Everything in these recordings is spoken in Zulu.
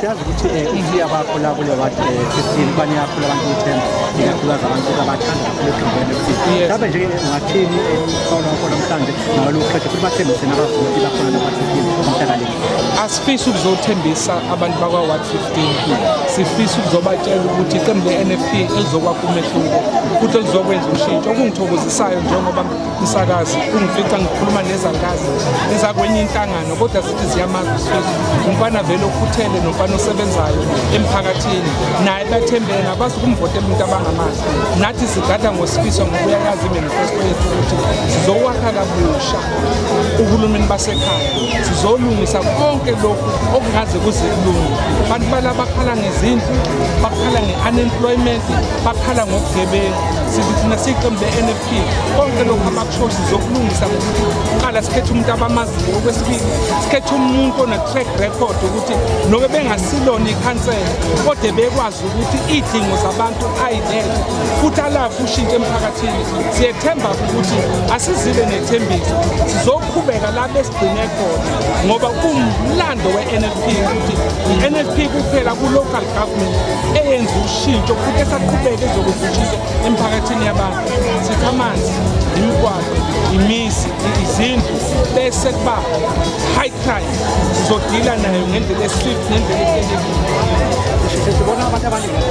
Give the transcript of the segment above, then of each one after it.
siyazi ukuthi um eh, ithi abakho la kule ward um eh, fifteen baniyakhula abantu ithemba ikakhulukazi abantu abathanda kakhulu eqembeni lokuthini mhlawumbe nje ungathini ekhona eh, khona mhlawumbe nalo qede futhi bathembise nabavoti bakhona nabathekile umhlakale asifisi ukuzothembisa abantu bakwa-ward 15 sifisa ukuzobatshela ukuthi iqembu le-n f p elizokwakha umehluko futhi elizokwenza ushintsho okungithokozisayo njengoba umsakazi ungifica ngikhuluma nezankazi ezakwenye inhlangano kodwa zithi ziyamazi usifiso umfana vele okhuthele nomfana osebenzayo emphakathini naye bathembele nabazi ukumvotela umuntu abangamazi nathi sigada ngosifiso ngoba uyayazi imanifesto yethu ukuthi sizokwakha kabusha uhulumeni basekhaya sizolungisa konke lokhu okungaze kuze kulunge abantu bala bakhala ngezindlu bakhala nge-unemployment bakhala ngobugebengu sithi thina siyiqembu le-nf konke lokhu amakushoshi zokulungisa ngokuthi kuqala sikhethe umuntu abamaziyo okwesibili sikhethe umuntu ona-track record ukuthi nobe bengasilona ikhansela kodwa bekwazi ukuthi iy'dingo zabantu ayilele futhi alafu ushintshe emphakathini siyethemba ukuthi asizile nethembiso sizoqhubeka la besigcine khona ngoba kumlando we-nfp ukuthi i-nfp kuphela ku-local government eyenza ushintsho futhi esaqhubeka ezokwenza ushintsho emphakathini yabantu sithi amanzi imigwaqo imizi izindlu bese kuba high crime sizodila nayo ngendlela eswift ngendlela ehlelekile sibona abantu abaningi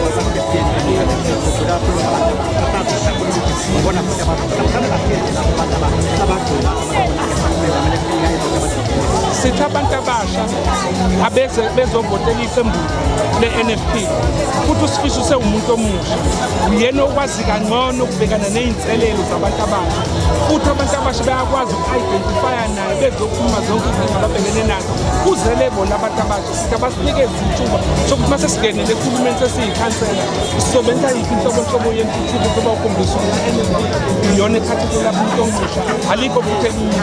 sithi abantu abasha abeze bezovotela iqembu le-nfp futhi usifiso sewumuntu omunye uyena okwazi kangcono ukubhekana ney'nselelo zabantu abasha futhi abantu abasha bayakwazi uku-identifya naye bezokhuluma zonke izinto ababhekene nazo kuzele bona abantu abasha sithi abasinikezi ithuba sokuthi uma sesingenele ekhulumeni sesiyikhansela sizobenza yiphi inhlobonhlobo yentuthuko soba ukhombisa ukuthi iyona ekhathekela umuntu omusha alikho futhi elinye